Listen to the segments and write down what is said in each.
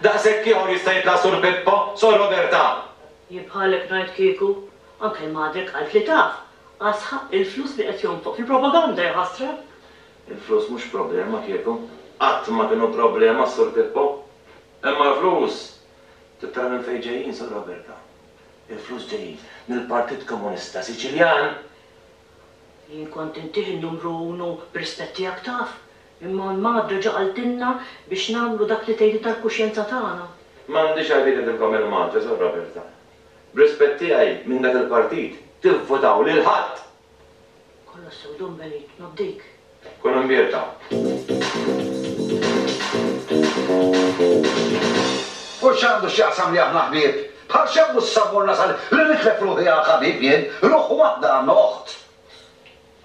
Daqshekk ieħor jista' jitla' Sur Pippo, Sor Roberta! Jien bħalek ngħid kieku. Anke magħdek qalt li taf. Asħa, il-flus li qed jonfoq fil-propaganda ja ħasra! Il-flus mhux problema kieku. Qatt ma kienu problema, Sur Pippo. Imma l-flus trid tara minn fejn ġejjin, Sor Roberta. Il-flus ġejjin mill-Partit Komunista Siċiljan! Jien kont intih n-numru unu b'rispett tiegħek taf. Imma l-Magħad reġa' qaltilna biex nagħmlu dak li tgħidilna l-kuxjenza tagħna. M'għandix għalfejn ngħidilkom il-Mantra, Sur Roberta. B'rispett tiegħi minn dak il-partit, tivvutaw lil ħadd! Kollha sew Don Benign, nobdik. Kun imbierka. U x'għandu x'jaqsam li aħna ħbieb? Bħal x'għandu s-sabor nasal li nitlef ruħi għal ħabib jien, ruħ waħda għandna oħt!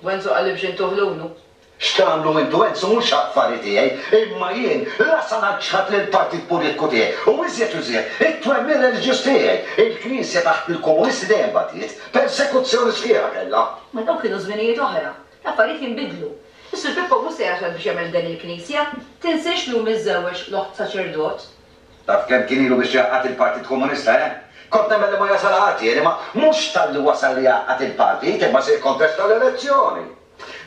Wenzu qalli biex intuh l-unu. X'tagħmlu intu hent su mhux affari tiegħi, imma jien la sa naġġħad lill-partit politiku tiegħi u iżjed u iżjed it-twemmin reliġjuż tiegħi. Il-Knisja taħt il-Komunisti dejjem batiet, persekuzzjoni sħiħa kellha. Ma dawk kienu żminijiet oħra. L-affarijiet jinbidlu. Is-Sur Pippo mhux se jasal biex jagħmel f'den il-Knisja. Tinsiex li hu miżżewweġ l-oħt saċerdot. Taf kemm kien ilu biex jgħaqqad il-Partit Komunista, eh? Kont nemmen li ma jasal ħadd jien, imma mhux talli wasal li jgħaqqad il-partit, imma se jikkontesta l-elezzjoni.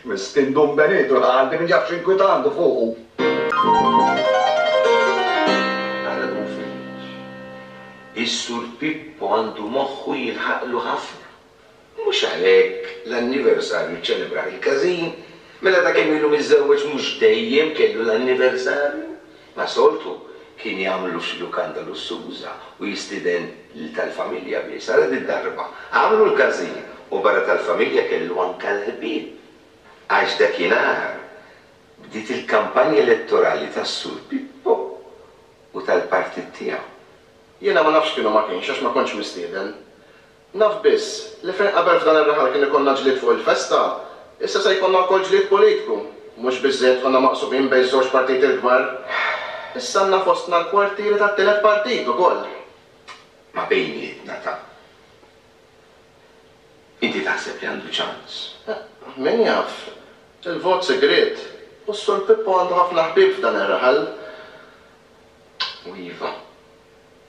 Miskin Dun Benitu l-Għaldi min jaf x'inkwitantu fuqu. Għarrbu fil-lux. Is-Sur Pippo għandu moħħu jilħaqlu ħafna. Mhux għalhekk l-anniversarju ċċelebrah il-każin, mela ta' kemm ilu miżżewweġ mhux dejjem kellu l-anniversarju? Ma' soltu, kien jagħmlu xi lukanda lussuża u jistieden lil tal-familja biss. Ara did-darba, għamlu l-każin u barra tal-familja kellu anke l-ħbieb. Għax dakinhar, bdiet il-kampanja elettorali tas-Sur Pippo u tal-partit tiegħu. Jiena ma nafx x'kienu ma kienx għax ma kontx mistieden. Naf biss, li fejn qabel f'dan ir-raħal kien ikollna ġlied fuq il-festa, issa se jkollna wkoll ġlied politiku. Mhux biżżejjed konna maqsubin bejn żewġ partiti l-kbar, issa għandna fostna l-kwartieri tat-tielet partit ukoll. Ma bejnietna ta'. Inti taħseb li għandu ċans? Min jaf. Il-vot sigriet, u s-Sur Pippo għandu ħafna ħbieb f'dan ir-raħal. U iva.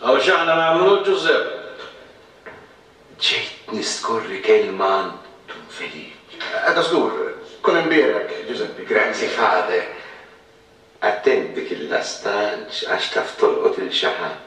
Hawn x'aħna nagħmlu, Ġużepp? Ġejt niskorri kelma għand Dun Feliċ. Għada żgur tkun hemm bieraek, Ġużeppi. Grazzi, Father. Attent dik il-lasta għax taf tolqot 'il xi ħadd.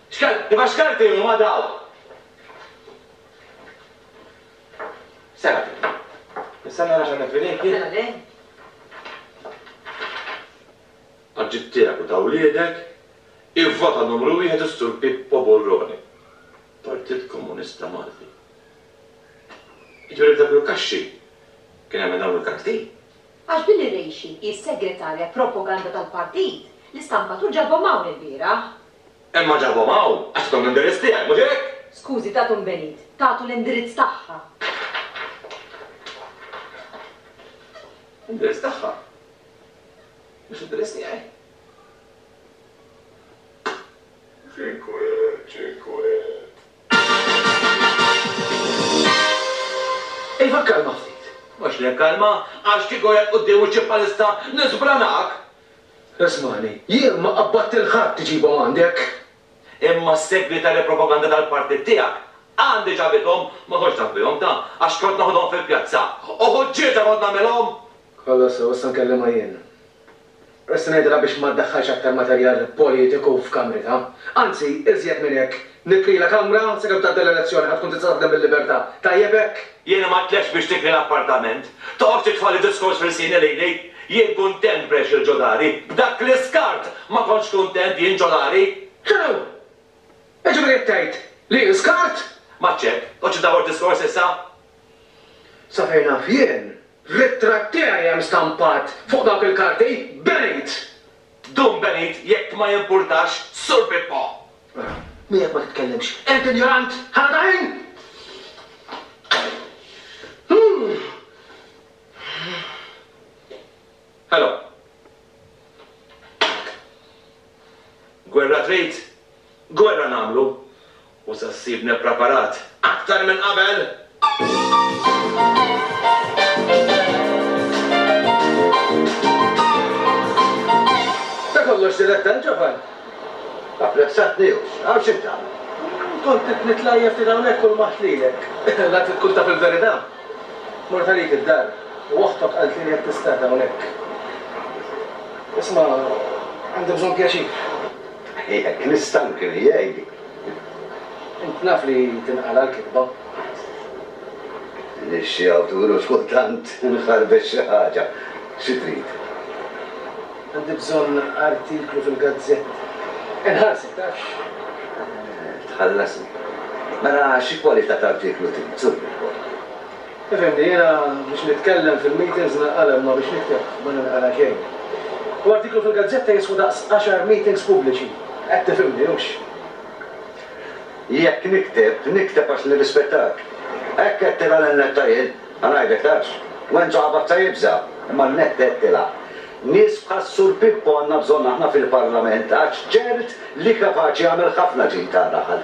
Xkart, imma xkarti huma dawn? Sena. Issa nara x'għandna f'idejk jien. Mela le. Għad ġid tiegħek u ta' wliedek, ivvota numru wieħed is-Sur Pippo Burrone, Partit Komunista Malti. Jiġifieri f'dak il-kaxxi kien hemm dawn il-karti? Għax Billy Reishi hi s-Segretarja Propaganda tal-Partit li stampat u ġabhom hawn ilbieraħ. Imma ġabhom hawn għax tathom l-indirizz tiegħi, mhux hekk? Skużi, tathom Benit. Tatu l-indirizz tagħha. L-indirizz tagħha? Mhux l-indirizz tiegħi? X'inkwiet, x'inkwiet! Iva kkalma ftit. Mhux li nkkalmha, għax kieku hekk quddiem wiċċi bħalissa niżbranak! Ismagħni, jien ma qabbadt lil ħadd iġibhom għandek. Imma s-segretarja propaganda tal-partit tiegħek għandi ġabithom, ma kontx naf bihom ta, għax kont naħodhom fil-pjazza. U ħuġġieġa kont nagħmilhom! Kollox sew, issa nkellimha jien. Issa ngħidilha biex ma ddaħħalx aktar materjal politiku f'kamritha. Anzi, iżjed minn hekk, Nikri la kamra sakemm tgħaddi l-elezzjoni ħa tkun tista' taħdem bil-libertà. Tajjeb hekk? Jiena ma tlextx biex tikri l-appartament. Toqgħodx titfagħli diskors f'ilsini lili. Jien kuntent b'għex il-ġodari. B'dak l-iskart ma kontx kuntent jien ġodari. X'inhu? Jiġifieri qed tgħid li jien skart? M'għadx hekk. Toqgħodx iddawwar diskors issa. Sa fejn naf jien, ritratt tiegħi hemm stampat fuq dawk il-karti. Benejt! Dum benejt jekk ma jimpurtax, Sur Pippo! Mela, miegħek ma titkellimx, qerd injorant! Ħala t'għajn! Ħela! Gwerra trid? Gwerra nagħmlu! U sa ssibni ppreparat aktar minn qabel! Ta' kollox Diletta l-ġovan apprezzatni u x'naf xi tagħmel. Kont qed nitlajjef ftit hawnhekk u lmaħt lilek. La trid tkun taf il-verità. Mort għalik id-dar u oħtok qalt li qed tistad hawnhekk. Isma' għandi bżonn pjaċir. Jekk nistankri jgħidli. Int naf li tinqala' l-kitba. Minix xi awtur u x'kultant inħarbet xi ħaġa. Xi trid? Għandi bżonn artiklu fil-gazzetta. Inħallsek, tafx? Tħallasni. Mela xi kwalità t'artiklu trid, żurni wkoll. Ifhimni, jiena biex nitkellem fil-meetings ninqala' imma biex nikteb ma ninqala' xejn. U artiklu fil-gazzetta jiswa daqs għaxar meetings pubbliċi. Qed tifhimni, hux? Jekk nikteb, nikteb għax nirrispettak. Hekk qed tilgħa lin-netta jien? Ħa ngħidlek tafx. Wenzu Għabazza jibża', imma n-netta qed tilgħa. Nies bħas-Sur Pippo għandna bżonn aħna fil-Parlament għax ċert li kapaċi jagħmel ħafna ġid għar-raħal.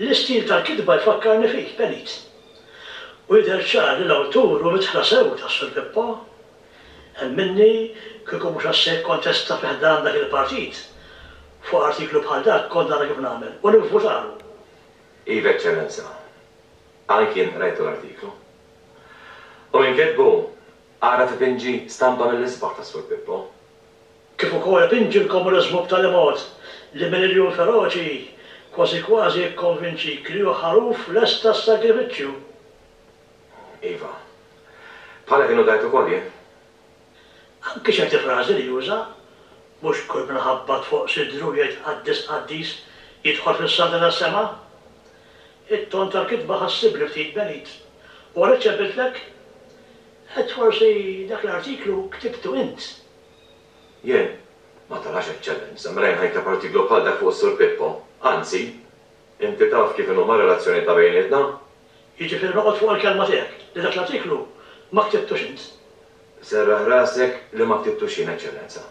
L-istil tal-kitba jfakkarni fik, Pelit. U jidher ċar li l-awtur hu midħla sew ta' Sur Pippo. Hemm minni, kieku mhux għax se jikkontesta fi ħdan dak il-partit, fuq artiklu bħal dak kont nara kif nagħmel, u nivvutalu! Iva, Eċċellenza. Anki jien qrajtu l-artiklu. U min kitbu, ara tipinġi stampa mill-isbaħ ta' Sur Pippo. kif ukoll pinġi l-komuniżmu b'tali mod li minn irjul feroċi kważi kważi jikkonvinċik li hu ħaruf lest għas-sagrifiċċju. Iva. Bħala kienu dgħajt ukoll jien. Anki ċerti frażi li juża, Mhux kull min ħabbat fuq sidru u jgħid qaddis qaddis jidħol fis-saltna tas-sema. It-ton tal-kitba ħassibni ftit benit u għalhekk ċempiltlek? Għedt forsi dak l-artiklu ktibtu int Jien ma tarax eċċellenza mela jien ħajkab artiklu bħal dak fuq is-Sur Pippo. Anzi, inti taf kif inhuma r-relazzjonijiet ta' bejnietna. Jiġifieri noqgħod fuq il-kelma tiegħek li dak l-artiklu ma ktibtux int. Serraħ rasek li ma ktibtux jien, Eċċellenza.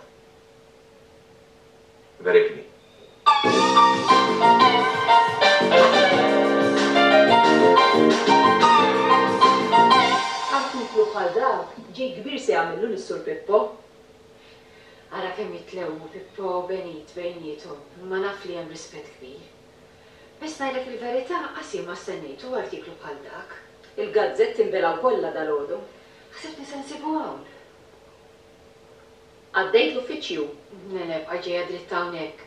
Berikni. Artiklu bħal dak ġid kbir se jagħmillu lis-Sur Pippo. Ara kemm jitlewmu Pippo u Benit bejniethom, imma naf li hemm rispett kbir. Biss ngħidlek il-verità qas jien ma stennejtu artiklu bħal dak. Il-gazzetti nbelgħu kollha dalgħodu. Ħsibtni se nsibu hawn. Għaddejt l-uffiċċju, bqajt ġejja dritt hawnhekk.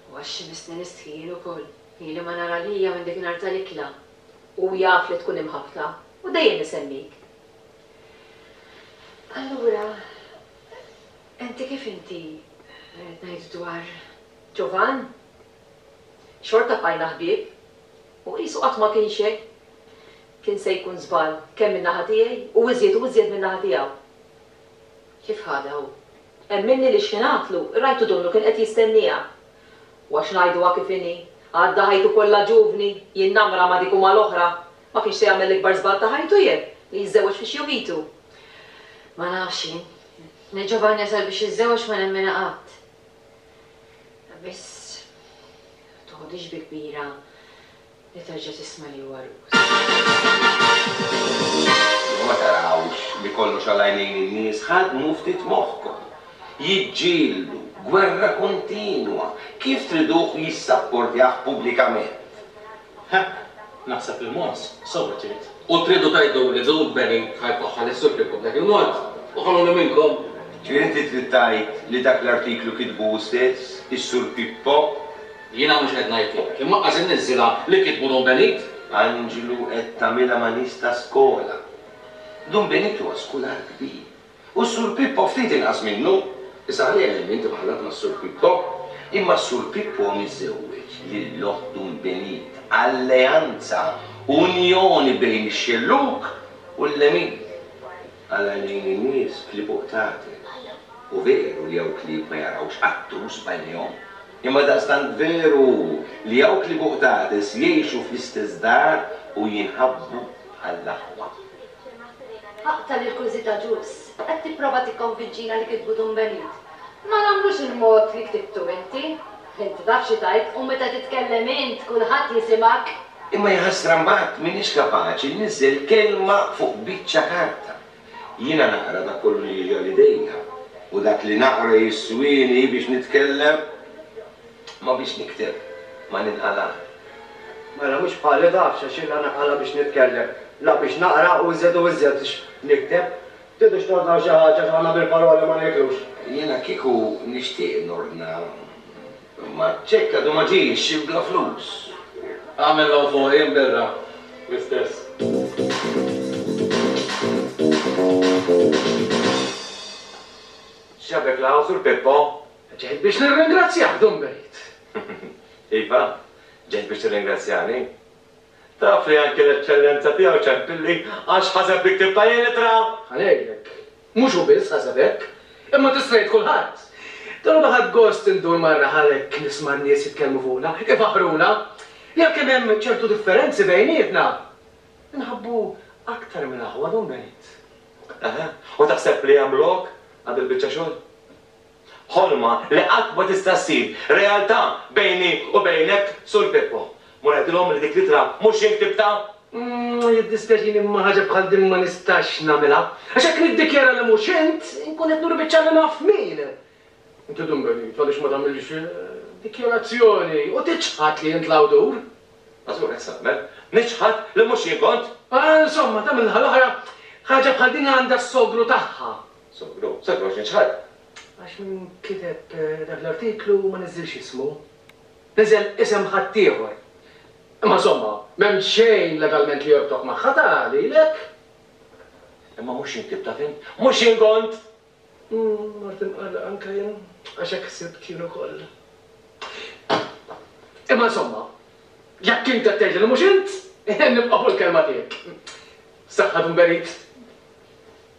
U għax missni nistħi jien ukoll. Ili ma nara Lia minn dik nhar tal-ikla. Hu jaf li tkun imħabbta u dejjem isemmik. Allura, inti kif inti, rrid ngħid dwar Ġovan? Xorta bqajna ħbieb. U qisu qatt ma kien xejn. Kien se jkun żball kemm min-naħa tiegħi u iżjed u iżjed min-naħa tiegħu. Kif ħadha hu? Hemm minni li xħinatlu, rajtu donnu kien qed jistennieha. U għax ngħiduha kif inhi, għadda ħajtu kollha ġuvni, jinnamra ma' dik u mal-oħra. Ma kienx se jagħmel l-ikbar żball ta' ħajtu jien, li jiżżewweġ fi xjuvitu. Ma nafx jien. Li Ġovanni jasal biex jiżżewweġ ma nemminha qatt. Biss, ma toħodhiex bi kbira. li terġa' tisma' li huwa Rus. Imma ma tarawx li kollox għal għajnejn in-nies? Ħaddmu ftit moħħkom. Jiġġieldu, gwerra kontinwa, kif triduh jissapportjah pubblikament? Ħa, naħseb li Mons sewwa trid. U tridu tgħiduli Zoot Benny ħa jfaħħar lis-Supreme Court Black and White? Oħruni minnkom! Ġifieri inti trid tgħid li dak l-artiklu kitbu hu stess, is-Sur Pippo? Jiena mhux qed ngħidlek, imma qas inniżżilha li kitbu Dom Benit. Anġlu qed tagħmilha ma' nies ta' skola. Dom Benit huwa skular kbir. U s-Sur Pippo ftit inqas minnu. Issa ħalli għalhemm int imħallat mas-Sur Pippo. Imma s-Sur Pippo miżżewweġ lil oħt Dom Benit, alleanza, unjoni bejn ix-xellug u l-lemin. Għal għajnejn in-nies klieb uqtatel. U veru li hawn klieb ma jarawx qattus b'għajnejhom. Imma daqstant veru hu li dawk li fuq dades jgħixu fl-istess dar u jinħabbu bħall-aħwa. Aqta' l-irkużità Ġus, qed tipprova tikkonvinċina li kitbu Dun Benit? Ma nagħmlux il-mod li ktibtu inti. Int taf xi tgħid u meta titkellem int kulħadd jisimgħek. Imma jaħasra mbagħad m'iniex kapaċi niżel kelma fuq biċċa karta. Jiena naqra dak kollu li jiġi għal idejja u dak li naqra jiswieni biex nitkellem, ma biex nikteb ma ninqala'. Mela mhux bħali tafx għax jiena ninqala' biex nitkellem, la biex naqra u iżjed u iżjed biex nikteb. Tridux tordnaw xi ħaġa għax aħna bil-paroli ma nieklux. Jiena kieku nixtieq nordna Imma ċekk għadu ma ġiex, bla flus. Għamel law fuq jien birra l-istess. X'ġabek law, Sur Pippo? Ġejt biex nirringrazzjak, Dun Berit. Iva, ġejt biex tirringrazzjani. Taf li anki l-Eċċellenza tiegħu ċempilli għax ħaseb li ktibtha jien l-ittra! Ħa ngħidlek. Mhux hu biss ħaseb hekk, imma tista' jgħid kulħadd. Dalgħodu ħadt gost indur marra Halleck nisma' n-nies jitkellmu fuqna, ifaħħruna, li għalkemm hemm ċertu differenzi bejnietna, inħabbu aktar minn aħwa, don't get it? Eħe, u taħseb li hemm lok għal dil-biċċa xogħol? Ħolma li qatt ma tista' ssir realtà bejni u bejnek, Sur Pippo. Mur għidilhom li dik l-ittra mhux jien ktibtha. Umm, jiddispjaċini imma ħaġa bħal din ma nistax nagħmilha. Għax jekk niddikjara li mhux int, inkun qed nuri biċ-ċar li naf min. Inti tkun benit għaliex ma tagħmilx dikjarazzjoni u tiċħad li int l-awtur. Mażgur, hekk se nagħmel. Niċħad li mhux jien kont. Insomma, ta' min-naħa l-oħra, ħaġa bħal din għandha s-sogru tagħha. Sogru, sa kif għax niċħad? Għax min kiteb dak l-artiklu ma niżżilx ismu. Niżel isem ħaddieħor. Imma insomma, m'hemm xejn legalment li jorbtok magħha, ta lilek. Imma mhux jien ktibtha, fhimt? Mhux jien kont! Mort imqarraq anke jien, għax hekk ħsibt jien ukoll. Imma insomma, jekk int qed tgħidli li mhux int, nibqa' fuq il-kelma tiegħek. Saħħa Tumberit!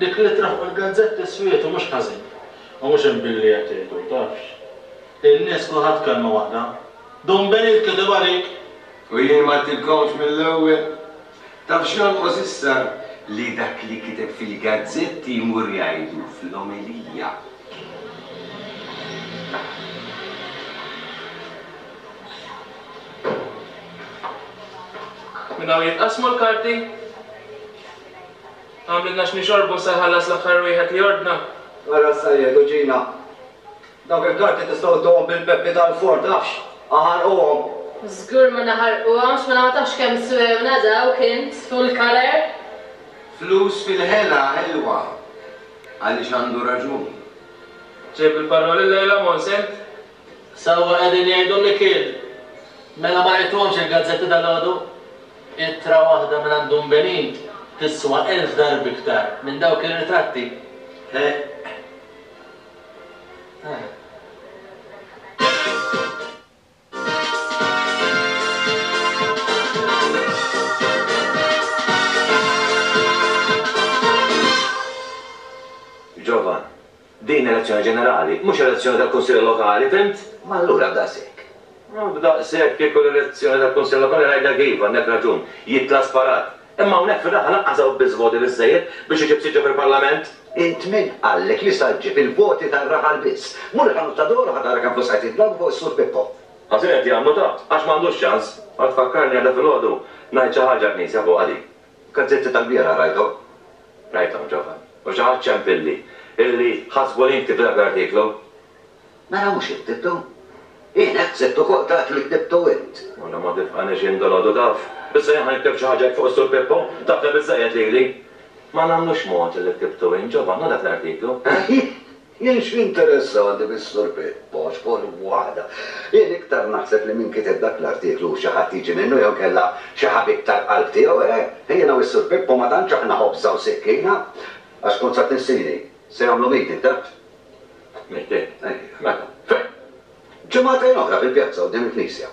Dik l-ittra fuq il-gazzetti swiet u mhux ħażin. U mhux hemm billi qed jgħidu, tafx. In-nies kulħadd kelma waħda. Dun Benit kiteb għalik! U jien ma għidtilkomx mill-ewwel? Taf x'jonqos issa? Li dak li kiteb fil-gazzetti jmur jgħidu fl-omelija. Minn hawn jitqassmu l-karti? Għamlitna x'nixorbu se jħallas l-aħħar wieħed li jordna. Ara s-sajiet u ġina. Dawk il-karti tistgħu ittuhom bil-peppi tal-forn, tafx? Aħarquhom. Żgur ma naħarquhomx, mela ma tafx kemm swewna dawk int, full colour? Flus fil-ħela ħelwa, għaliex għandu raġun. Ġejb il-parroli llejla, Mons, int? Sewwa qegħdin jgħidu Mikiel! Mela ma rajthomx il-gazzetti dalgħodu? Ittra waħda mingħand Dun Benin tiswa elf darbi iktar minn dawk ir-ritratti. Heeh. Ġovan. Din elezzjoni ġenerali, mhux elezzjoni tal-Kunsill Lokali, fhimt? Ma allura daqshekk. Daqshekk kieku l-elezzjoni tal-Kunsill Lokali ngħidlek iva, għandek raġun, jitla' sparat. Imma hawnhekk fir-raħal lanqas hawn biss voti biżżejjed biex iġib siġġu fil-Parlament. Int min qallek li sa ġġib il-voti tar-raħal biss? Mur il-ħanut ta' Doro ħa tara kemm flus qed jitlaw fuq is-Sur Pippo. Ħażin qed jagħmlu taħt, għax m'għandux ċans. Ara tfakkarni għada filgħodu ngħid xi ħaġa l-Knisja fuqha din. Gazzetti tal-bieraħ rajthom. Rajthom ġovan. U xi ħadd ċempilli, illi ħasbu li nktibt dak l-artiklu. Mela mhux int ktibtu? Jien hekk ħsibt ukoll, dak li ktibtu int. Mela ma tifqanix jien dalodu taf. Issa jien ħa nikteb xi ħaġa hekk fuq is-Sur Pippo? Tafna biżżejjed lili. Ma nagħmlux mod illi ktibtu int ġovan, hu dak l-artiklu, he? Jien x'jinteressani bis-Sur Poċ, kont waħda. Jien iktar naħseb li min kiteb dak l-artiklu hu xi ħadd jiġi minnu jew inkella xi ħabib tal-qalb tiegħu, eh! Jiena u s-Sur Pippo ma tantx aħna ħobża u sikkina, għax kont sa tnissini, se jagħmlu meeting taħt. Meeting? Ejja. Meta? Fejn? Ġimagħtejn oħra fil-pjazza quddiem il-knisja.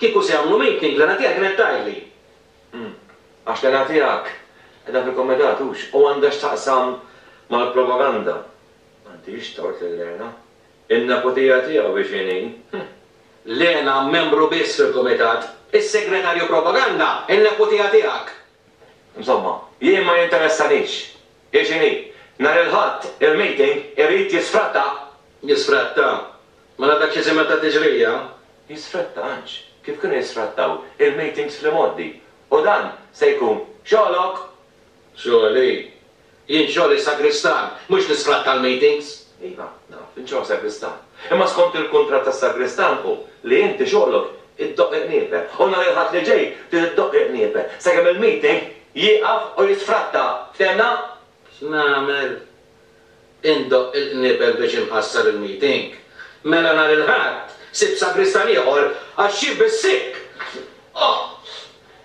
Kieku se jagħmlu meeting, l-għana tiegħi kienet tgħidli. Hm. Għax l-għana tiegħek qiegħda fil-kumitat, hux? U għandha x'taqsam mal-propaganda. M'għandix tort lil Lena. In-neputija tiegħu hi x'inhi. Hm. Lena membru biss fil-kumitat. Is-segretarju propaganda, in-neputija tiegħek! Insomma, jien ma jinteressanix. Hi x'inhi. Nhar il-Ħadd, il-meeting irid jisfratta. Jisfratta? Mela dak xi żiemel ta' tiġrija? Jisfratta għandx kif kienu jisfrattaw il-meetings fl-imgħoddi. U dan se jkun xogħlok! Xogħli? Jien xogħli sagristan, mhux li sfratta l-meetings! Iva, naf, int xogħol sagristan. Imma skont il-kuntratt tas-sagristan hu li inti xogħlok iddoqq iqniepen u nhar il-Ħadd li ġej trid iddoqq iqniepen sakemm il-meeting jieqaf u jisfratta. Ftehemna? X'nagħmel? Indoqq il-qniebel biex inħassar il-meeting. Mela nhar il-Ħadd sibt sagristan ieħor għax xi bis-sikk! Oh!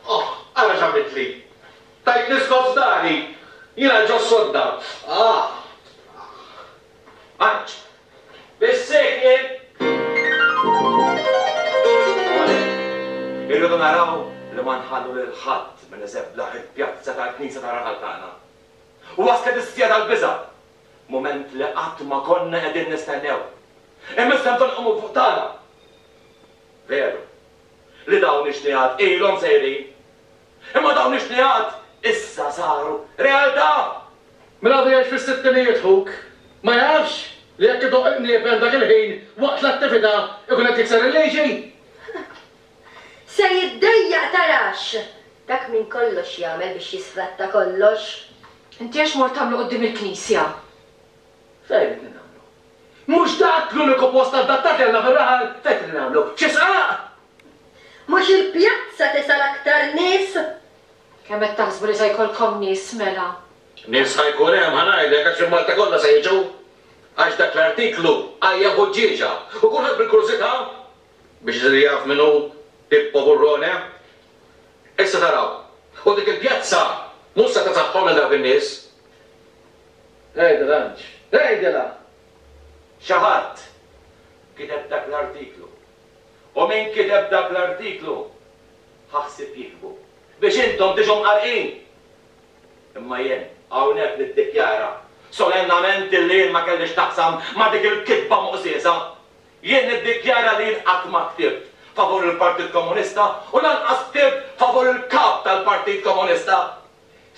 Oh! Ara x'għamiltli! Tajtni skos f'dari! Jiena ġo s-sodda! Ah! Ah! Għaġġ. Biss hekk nil. U għalhekk, irridu naraw li ma nħallu lil ħadd minn iżeblaħ il-pjazza tal-knisja tar-raħal tagħna. Waslet is-siegħa tal-biża', mument li qatt ma konna qegħdin nistennew. Imma issa bżonn iqumu fuq tagħna. Veru, li dawn ix-xnigħat ilhom sejrin Imma dawn ix-xnigħat issa saru realtà! Min għadu jgħix fis-sittinijiet ħuk ma jafx li jekk idoqq il-qniepen dak il-ħin waqt l-attività jkun qed jikser il-liġi? Se jiddejjaq tarax! Dak minn kollox jagħmel biex jisfratta kollox. Inti għax mort tagħmlu quddiem il-knisja? Fejn qed nagħmlu? Mhux dak l-uniku post adattat li għandna fir-raħal fejn qed nagħmlu? Xi sqaq! Mhux il-pjazza tisal aktar nies? Kemm qed taħsbu li se jkollkom nies mela? Nies ħa jkun hemm, ħa ngħidlek, għax il-Malta kollha se jiġu. Għax dak l-artiklu għajja ħuġġieġa u kulħadd bil-kurżità biex isir jaf min hu Pippo Burrone. Issa taraw. U dik il-pjazza mhux se tagħtihom lil dawk in-nies. Tgħidilha int! Tgħidilha! Xi ħadd kiteb dak l-artiklu. U min kiteb dak l-artiklu ħa ħsieb jiktbu biex intom tiġu mqarrqin. Imma jien hawnhekk niddikjara solennament illi jien ma kelli x'naqsam ma' dik il-kitba moqżieża. Jien niddikjara li jien qatt ma ktibt favur il-Partit Komunista u lanqas ktibt favur il-Kap tal-Partit Komunista.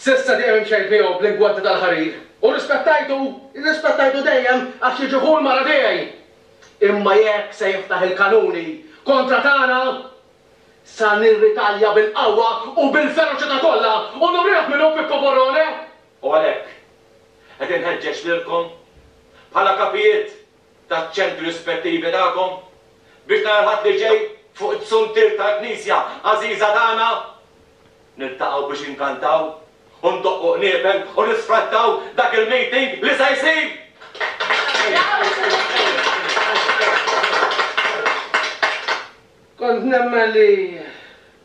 S'issa dejjem imxejt miegħu bl-ingwanti tal-ħarir u rrispettajtu, rrispettajtu dejjem għax jiġi ħu l-mara tiegħi. Imma jekk se jiftaħ il-kanuni kontra tagħna, sa nirritalja bil-qawwa u bil-feroċità kollha u nurih min hu Pippo Borrone! U għalhekk, qed inħeġġeġ lilkom, bħala kapijiet, taċ-ċentri rispettivi tagħkom, biex nhar il-Ħadd li ġej, fuq is-suntier tal-Knisja għażiża tagħna, niltaqgħu biex inkantaw u ndoqqu qniepen u nisfrattaw dak il-meeting li se jsir! Kont nemmen li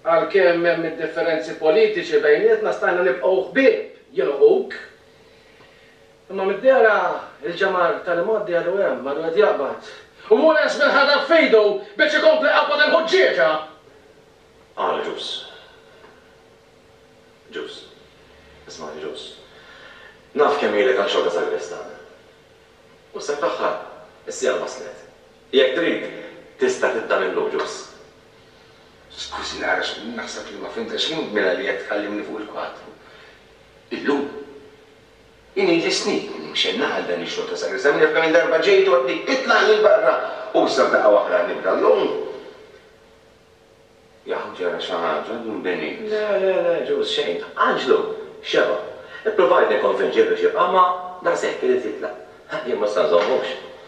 għalkemm hemm id-differenzi politiċi bejnietna stajna nibqgħu ħbieb jien u ħuk. Imma mid-dehra il-ġemgħar tal-imgħoddi għadu hemm, għadu qed jaqbad. U hu lest bil-ħadad f'idu biex ikompli jqabbad il-ħuġġieġa! Qal Ġus. Ġus. Ismagħni Ġus. Naf kemm ilek għal xorta sagristan. U se tħaħħar. Is-siegħa waslet. Jekk trid, tista' tibda minn llum, Ġus. Skużi nara għax naħseb li ma fhimtekx mela li qed tkallimni fuq il-kwadru. Illum? Inhi li snin li mxejna għal dan ix-xogħol ta' sagrista, min jaf kemm-il darba ġejt u għedtni itlaq lil barra u issa f'daqqa waħda nibda llum. Jaħu ġara xi ħaġa, għadu nbeni. Le, le, le, Ġuż, xejn. Anġlu! Xebgħu. Ippruvajt nikkonvinċih biex jibqa' ma daqshekk irid jitlaq. Jien ma se nżommux.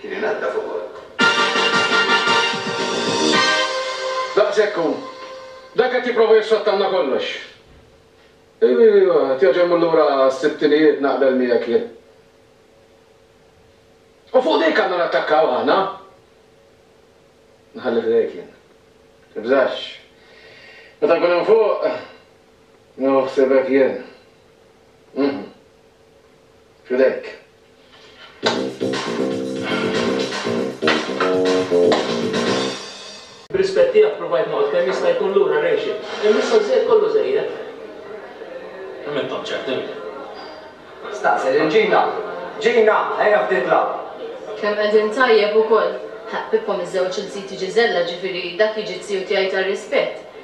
Kien inaddaf ukoll. Daqshekk hu. Dan qed jipprova jissottanna kollox. Ivivivva, qed jerġa' jmur lura għas-sittinijiet naqbel miegħek jien. U fuq dik għandna nattakkaw aħna? Nħalli f'idejk jien. Tibżax. Meta nkun hemm fuq, nieħu ħsiebek jien. Mhmm. F'idejk. B'rispett tiegħek provajt noqgħod kemm jista' jkun lura Rachel. Hemm issa żżejjed kollu żejjed. Kemm int tant ċert int? Staqsi lil Gina. Gina, ejja ftit lgħab. Kemm qegħdin tajjeb ukoll. Ħa, Pippo miż-żewġ il-ziti Gisella, ġifieri dak jiġi z-ziju tiegħi tar-rispett.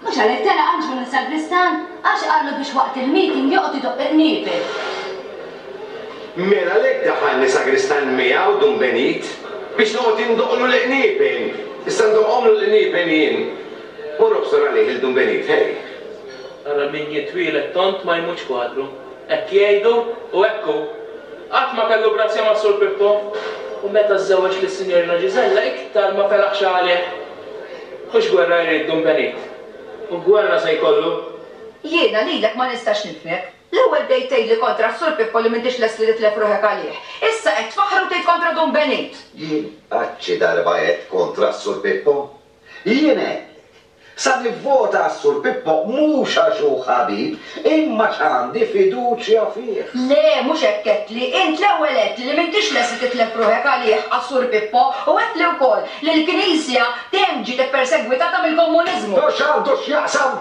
Mhux għalhekk tela' Anġlu minn sagristan? Għax qallu biex waqt il-meeting joqgħod idoqq il-qniepen. Mela għalhekk daħalni sagristan miegħu Dun Benit biex noqgħod indoqqlu l-qniepen. Issa ndoqqhomlu l-qniepen jien. U nobsor għalih lil Dun Benit, ħej! Ara min jitwieled tond ma jmutx kwadru. Hekk jgħidu u hekk hu. Qatt ma kellu grazzja mas-Sur Pippo. U meta żżewweġ lis-Sinjorina Ġiżella iktar ma felaħx għalih. Hux gwerra jrid Dun Benit? U gwerra se jkollu? Jiena lilek ma nistax nifhmek. L-ewwel bdejt tgħidli kontra s-Sur Pippo li m'intix lest li titlef ruħek għalih. Issa qed tfaħħar u tgħid kontra Dun Benit! Jien qatt xi darba għedt kontra s-Sur Pippo? Jien għedtlek, sa nivvota għas-Sur Pippo mhux għax hu ħabib Imma x'għandi fiduċja fih. Le, mhux hekk għedtli. Int l-ewwel għedtli li m'intix lest li titlef ruħek għalih, għas-Sur Pippo, u għedtli wkoll li l-Knisja dejjem ġiet ippersegwitata mill-Komuniżmu. U x'għandu x'jaqsam?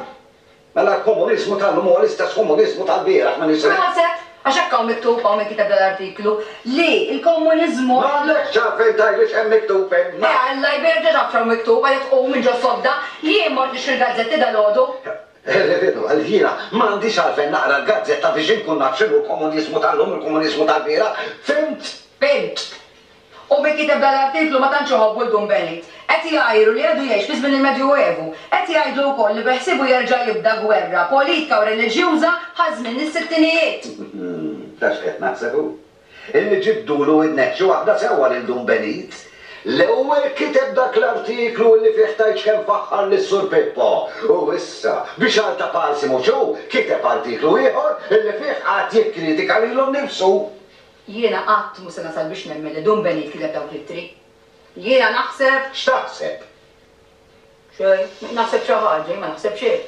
Mela l-Komuniżmu tal-lum huwa l-istess Komuniżmu tal-bieraħ, m'iniex se. Proset! Għax hekk hawn miktub, hawn min kiteb dal-artiklu, li l-Komuniżmu. M'għandekx x'għarfien tgħidli x'hemm miktub hemm, ma. Eh, Alla jbierek, ġa taf x'hawn miktub, għalhekk qum minn ġo sodda. Jien mort nixtri l-gazzetti dalgħodu. Eħe veru, għaliex jiena ma għandix għalfejn naqra l-gazzetta biex inkun naf x'inhu l-komuniżmu tal-lum u l-komuniżmu tal-bieraħ, fhimt? Fhimt. U min kiteb dan l-artiklu ma tantx iħobbu l-Dun Benit. Qed jgħajru li għadu jgħix fi żmien il-Medjuevu. Qed jgħidlu wkoll li beħsiebu jerġa' jibda gwerra politka u reliġjuża bħal żmien is-sittinijiet. Taf x'qed naħseb hu? Illi ġibdulu widnek xi waħda sewwa lil Dun Benit. L-ewwel kiteb dak l-artiklu illi fih tajtx kemm faħħar lis-Sur Pippo u issa, bi xagħar ta' palsi mhux hu, kiteb artiklu ieħor illi fih qagħad jikkritika lilu nnifsu. Jiena qatt mhu se nasal biex nemmen li Dun Benit kiteb dawk l-ittri. Jiena naħseb. X'taħseb? Xejn. Naħseb xi ħaġa, jien ma naħseb xejn.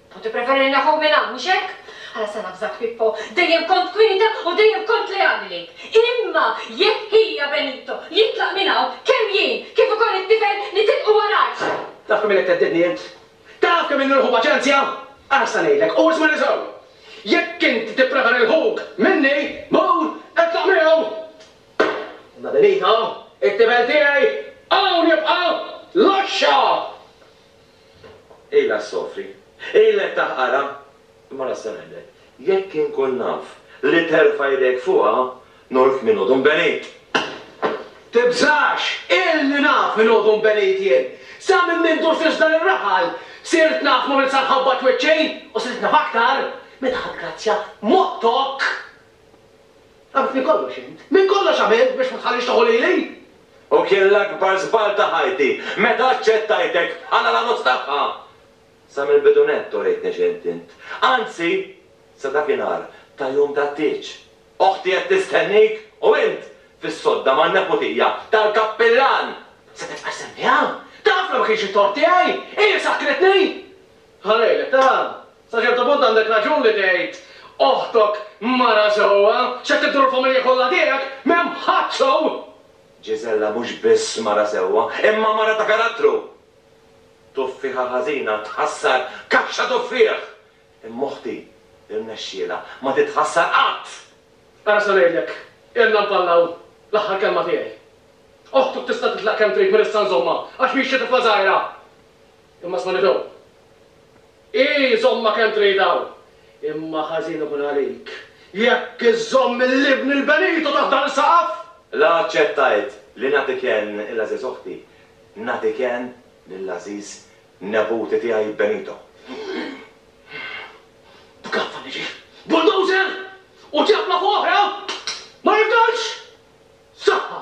U tippreferi li naħuk minn hawn, mhux hekk? Ħala sa nafżak, Pippo, dejjem kont kwieta u dejjem kont leali lejk. Imma jekk ħija Benito jitlaq minn hawn, kemm jien kif ukoll it-tifel nitilqu warajh! Taf kemm ilek theddidni int? Taf kemm ilni nħu paċenzja? Ara x'se ngħidlek, u ismagħni sew! Jekk int tippreferi l-ħuk minni, mur itlaq miegħu! Imma Benito, it-tifel tiegħi, hawn jibqa'! Laxxa! Ilha ssofri. Ilha ttaħqarha. Imma l-Għassa ngħidlek, jekk inkun naf li terfa' idejk fuqha, noqgħod kmieni ngħodu nbenid! Tibżax! Ilni naf min ngħodu nbenid jien! Sa minn minn durt iżda lir-raħal, sirt naf ma' min sa nħabbat wiċċi! U sirt naf aktar, meta ħadd grazzja m'għottok! Għarafni kollox int. Minn kollox għamilt biex ma tħallix tieħu lili. U kien l-akbar żball ta' ħajti meta aċċettajtek bħala l-għarus tagħha. Sa mill-bidu nett uritni x'int int. Anzi, sa dakinhar ta' jum tat-tieġ, oħti qed tistennik u int fis-sodda man-neputija tal-kappillan! Se titqassem miegħha? Taf li ma kienx it-tort tiegħi! Hi li sakkritni! Ħa ngħidlek, ta! Sa ċertu punt għandek raġun li tgħid, Oħtok mara sewwa, x'qed tiddur il-familja kollha tiegħek, m'hemm ħadd sew! Ġiżella mhux biss mara sewwa, imma mara ta' karattru! Tuffieħa ħażina tħassar kaxxa tuffieħ, imma oħti rnexxielha ma titħassar qatt! Ara se ngħidlek, ilna npallaw, l-aħħar kelma tiegħi. Oħtuk tista' titlaq kemm trid minn issa nżommha għax mhix xi tifla żgħira! Imma sma' Nido. Ii, żommha kemm trid hawn. Imma ħażin ikun għalik jekk iżżomm lill-ibn il-benitu taħt dan is-saqaf! La aċċettajt li nagħti kenn il-għażiż oħti, nagħti kenn lill-għażiż neputi tiegħi Benito. B'gaffa niġi bulldozer u ċappla fuq oħra ma jifdalx! Saħħa!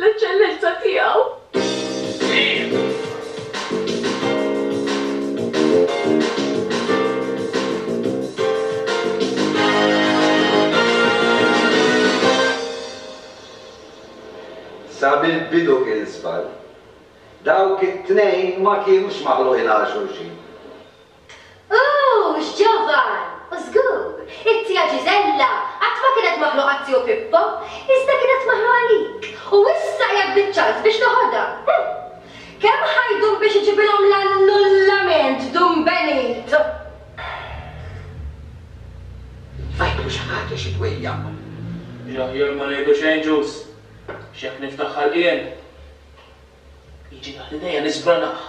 L-Eċċellenza Tiegħu Sa mill-bidu kien żball. Dawk it-tnejn ma kienux maħluqin għal xulxin. Ooh, x'ġovan! U żgur, it-tija Ġiżella qatt ma kienet maħluqa għat-tiju Pippo, iżda kienet maħluqa għalik, u issa qiegħed biċ-ċans biex toħodha. Hm! Kemm ħa jdum biex iġibilhom l-annullament, Dun Benit? Fajtlu xi ħaġa, xi dwejjaq. L-aħjar ma ngħidu xejn, Ġuż, x'hekk niftaħ ħalqien. Jiġi taħt idejja niżbraħ.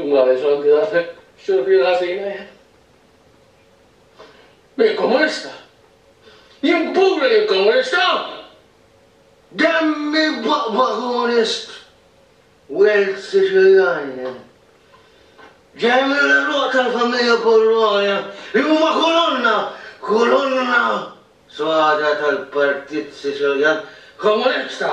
Imma Reġgħalt Grasek x'inhu fih l-ħażin, eh? Jien Komunista! Jien kburi li Komunista! Demmi b'għaqba Komunist! Wild Siċiljan jien. Ġej mill-għeruq tal-familja Pollonia li huma kolonna, kolonna sodha tal-Partit Siċiljan Komunista!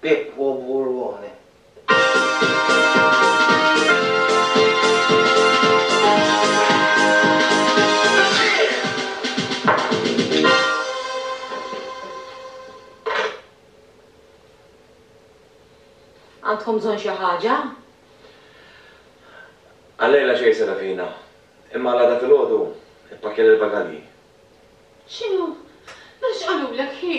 Pippo Burrone. Għandkom bżonn xi ħaġa? Għallejla xejn Serafina, imma għal għada filgħodu ippakkja lill-bagalji. X'inhu? Mela x'qalulek hi?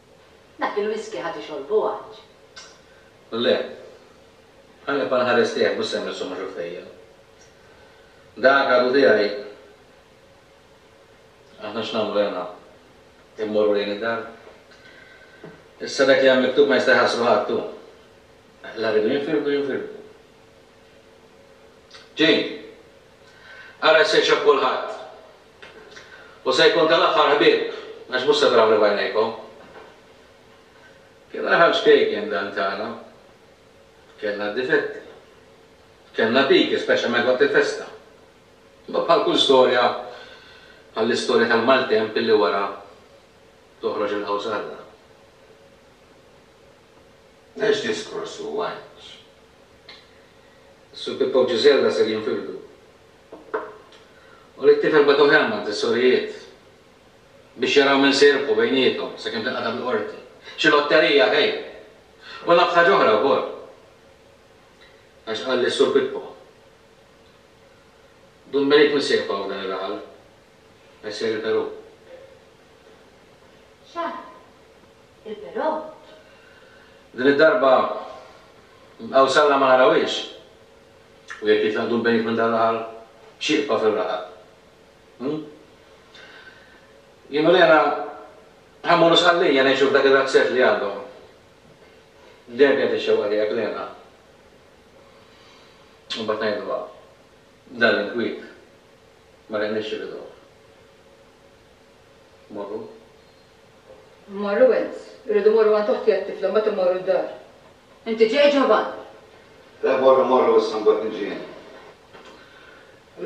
Dak il-whisky ħa tixorbu għax. Le. Ħalli nibqa' nħares lejh mhux se nmissu ma' xuffejjer. Dak għadu tiegħi. Aħna x'nagħmlu hena? Immorru lejn id-dar? Issa dak li hemm miktub ma jista' jħassru ħadd hu. La rridu jinfirdu jinfirdu. Jane! Ara x'se jxobb kulħadd! U se jkun tal-aħħar ħbieb, għax mhux se trawni b'għajnejkom. Kien aħrax kejken dan tagħna. Kellna d-difetti. Kellna piki, speċjalment waqt il-festa. Imma bħal kull storja, bħall-istorja tal-maltemp illi wara toħroġ il-qawsarra. Għax diskors hu, għax. Sur Pippa u Ġiżella ser jinfirdu. U li t-tifel bagħtuh hemm għand is-sorijiet biex jaraw min se jirbħu bejniethom sakemm tinqata' bil-qorti. Xi lotterija hi! U naf ħaġa oħra wkoll. Għax qalli s-Sur Pippo, Dun Benit min se jibqgħu f'dan ir-raħal? Għax ser il-Perù. X'għad? Il-Perù? Din id-darba nbqgħu s'Alla ma narawhiex. U jekk jitlaqtu l-bejjiet minn dan l-aħħar xieqfa fir-raħal? Hu? Jien u Lena ħa mmorru Sqallija ngħixu f'dak ir-razzett li għandhom. Dejjem kienet ix-xewqa tiegħek, Lena. U mbagħad ngħidluha, Dan l-inkwiet ma riqniex xi biduh. Morru. Mmorru għand. Irridu mmorru għand oħti għat-tifla, mbagħad immorru d-dar. Inti ġej, Ġovan? Le, morru, morru issa mbagħad niġi jien.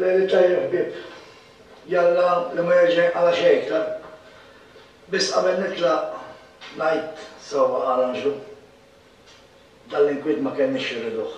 Lejl it-tajjeb ħbieb. Jalla li ma jerġa' jinqala' xejn iktar. Biss qabel nitlaq ngħid sewwa qal Anġlu. Dan l-inkwiet ma kellniex xi rriduh.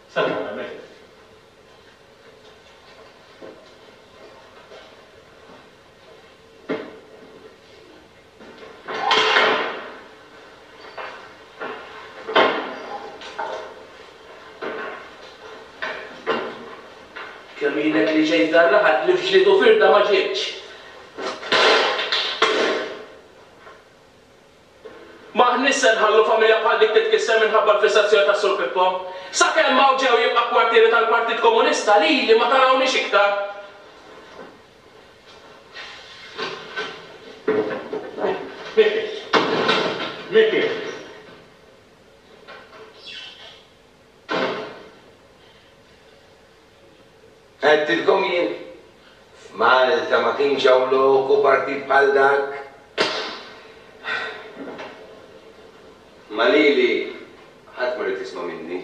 Sabiħ hemmhekk. Kemm ilek li ġejt f'dan l-aħal li f'ġlied u firda ma ġietx? M'aħniex se nħallu familja bħal dik titkisser minħabba l-fissazzjoni tas-Sur Pippo. Sakemm hawn ġew jibqa' kwartieri tal-Partit Komunista lili ma tarawniex iktar. Miki. Miki. Għedtilkom jien, f'Malta ma kienx hawn loku partit bħal dak. Imma lili ħadd ma ried jisma' minni.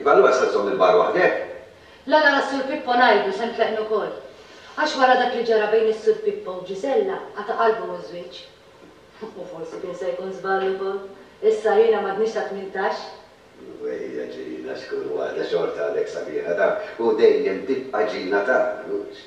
Iva allura se żżomm il-bar waħdek? La la la Sur Pippo ngħidu se nfeqnu wkoll. Għax wara dak li ġara bejn is-Sur Pippo u Ġiżella qata' qalbhom iż-żwieġ. U forsi kien se jkun żball ukoll. Issa jiena m'għadnix ta' tmintax. Ejja Ġina x'kull waħda xorta għadek sabiħa tagħna u dejjem tibqa' Ġina tagħna mhux?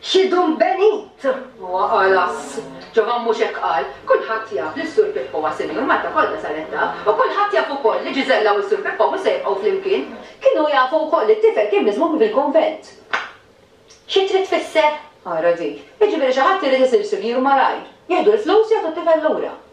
X'idum benit! Huwa għalas. Ġovan mhux hekk qal. Kulħadd jaf li s-Sur Pippo huwa sinjur, Malta kollha saret taf. U kulħadd jaf ukoll li Ġiżella u s-Sur Pippo mhux se jibqgħu flimkien. Kienu jafu wkoll li t-tifel kien miżmum fil-kunvent. Xi trid tfisser? Ara di. Jiġifieri xi ħadd irid isir sinjur malajr. Jieħdu l-flus, jagħtu t-tifel lura.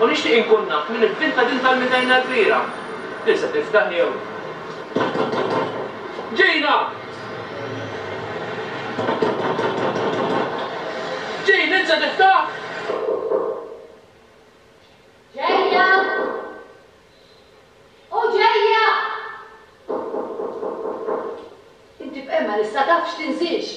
U nixtieq inkun naf min ivvinta din tal-midajna l-kbira. Din se tiftaħ jew? Ġejna! Jane, int se tiftaħ? Ġejja! O ġejja! Inti b'hemma lissa taf x'tinżilx!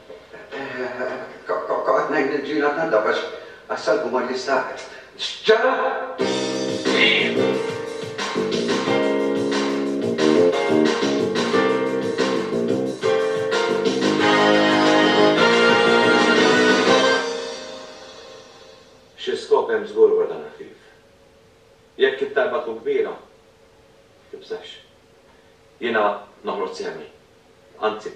Kont qed ngħid lill-ġiegħla tnadda għax għas-salgu ma jistahx. Xi skop hemm żgur wara dan il-ħfief. Jekk it-talba tkun kbira, tibżax. Jiena noħroġ sehmi. Anzi.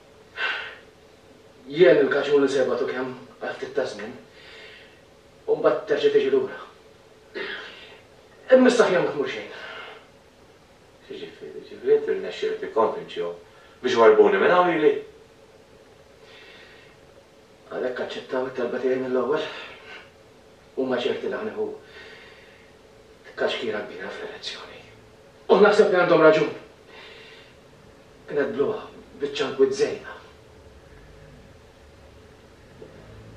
Jien il-kaċun li sejbagħtu kemm għal ftit ta' żmien u mbagħad terġa' tiġi lura. Imma issa aħjar ma tmur xejn. X'jiġifieri? Jiġifieri inti rnexxielek tikkonvinċihom biex warrbuni minn hawn lili? Għalhekk aċċettaw it-talba tiegħi mill-ewwel? Huma ċerti li ħa nieħu tkaxkira kbira fl-elezzjoni. U naħseb li għandhom raġun. Kienet bluha, biċċa nkwiet żejna.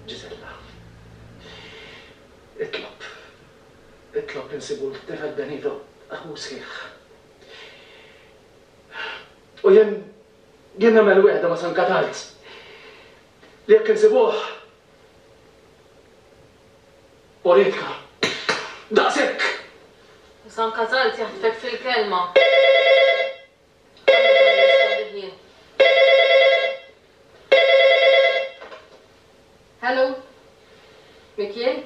Ġiżella. Itlob. Itlob insibu lit-tifel Benito, aħu sħiħ. U jien, jien nagħmel wegħda ma' San Katarz li jekk insibuh, Oritka, Daqshekk! U sa anka żgħalt jaħtfek fil-kelma. Għalhekk ma nirrispondih jien. Hello? Min kien?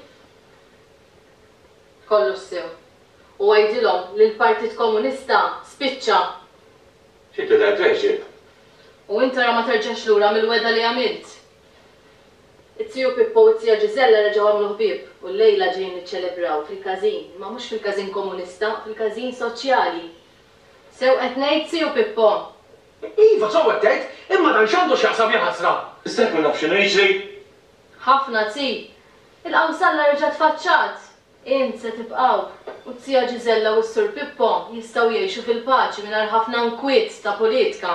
Kollox sew. U għidilhom li l-Partit Komunista spiċċa! Xi twieled għexieb? U int ara ma terġax lura mill-wegħda li għamilt! It-trio Pippo u t-tija Ġiżella reġgħu għamlu ħbieb u llejla ġejjin niċċelebraw fil-każin, imma mhux fil-każin komunista, fil-każin soċjali. Sew qed ngħid, tiju Pippo? Iva, sew qed tgħid, imma dan x'għandu x'jaqsam, ja ħasra! Issa jkun naf x'inhu jiġri? Ħafna zi! Il-qawsalla reġgħet tfaċċat! Int se tibqgħu, u t-tija Ġiżella u s-sur Pippo jistgħu jgħixu fil-paċi mingħajr ħafna nkwiet ta' pulitka.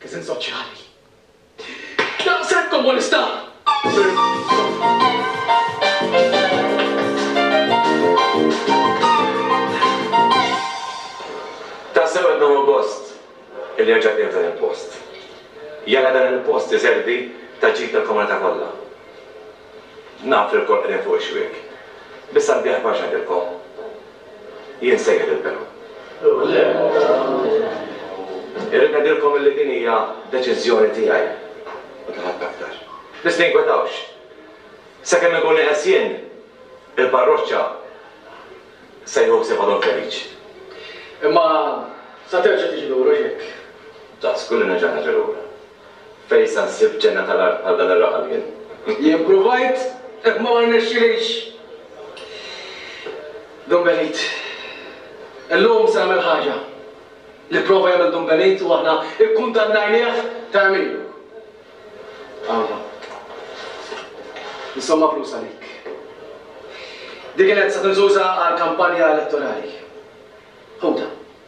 Kisem soċjali. Daqshekk komunista! Tassew qed nieħu gost illi reġgħet nieħu dan il-post. Jala dan il-post iservi ta' ġid tal-komunità kollha. Naf li lkoll qegħdin fuq ix-xwiek. Biss għandi aħbar x'ngħidilkom. Jien sejjer il-bidu. Irrid ngħidilkom illi din hija deċiżjoni tiegħi u ta' ħadd aktar. Biss tinkwetawx. Sakemm inkun nieqes jien, il-parroċċa se jieħu ħsiebha Dun Feliċ. Imma sa terġa' tiġi lura x'hekk? Żgur li nerġa' niġi lura. Fejn sa nsib ġenna tal-art bħal dan ir-raħal jien? Jien pruvajt, imma ma rnexxilix. Dun Benit. Illum se nagħmel ħaġa li pprova jagħmel Dun Benit u aħna kkundannajnieh ta' għemilu. Għandha. Insomma flus għalik. Din kienet se tinżuża għal kampanja elettorali. Ħudha.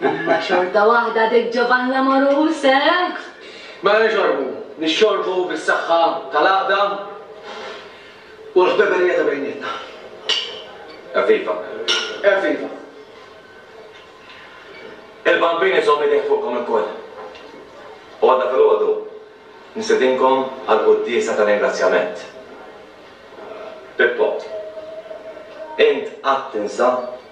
Imma xorta waħda dik Ġovann l-Amorus, eh? Mela nixorbu, nixxorbu bis-saħħa tal-għaqda u l-ħbeberija ta' bejnietna. Evviva! Evviva! Il-Bambin iżomm idejh fuqkom ilkoll. U għada filgħodu nistedinkom għall-quddiesa ta' ringrazzjament. Pippo, int qatt tinsa